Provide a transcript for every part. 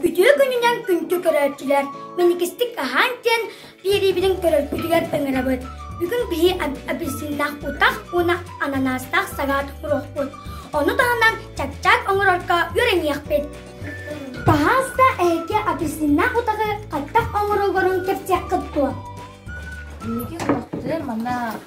Үтүө күнүнэн күнтү көрөөччүлэр мэникистик аһаан диэн биэриибитин көрөргүтүгэр ыҥырабыт. Бүгүн биһи апельсиннаах утах уонна ананаастаах салат куруохпут. Ону таһынан чапчаак оҥорорго үөрэниэхпит. Пожалуйста, эһиги апельсиннаах утаҕы хайдах оҥороллорун кэпсиэххит дуо? Биһиги куруохпутугар манна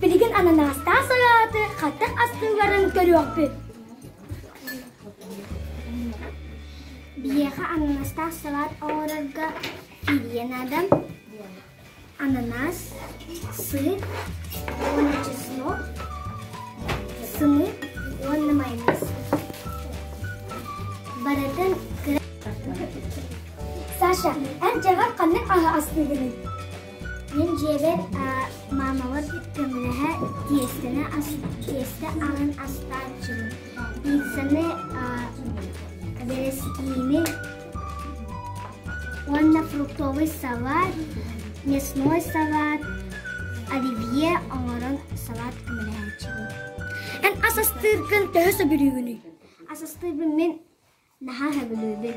Билигин ананастаах салааты хатык астыыларын көрүөхпүт. Биһиэхэ ананастаах салаат оҥорорго Тиийэ наада ананаас, сыр, уонна чеснок, сымы уонна майонез. Барытын Саша, эн дьэҕэр ханнык аһы астыыгыный? Мин дьиэбэр маамабыт көмөлөһө тиэстэни тиэстэ аһын астааччыбын. Пиццаны, верескины, уонна фруктовый салат мясной салат оливье оҥорон салат көмөлөһөөччүбүн эн ас астыыргын төһө сөбүлүүгүнүй ас астыырбын мин наһаа сөбүлүүбүн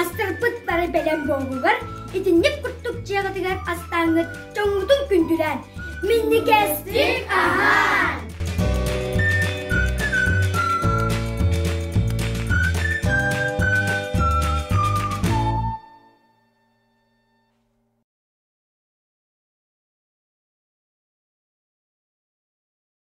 Астарпыт бары бэлэм буолугар, итинник курдук дьыалатыгар астааҥҥыт дьоҥҥутун күндүлээн, минникээстик аһаан!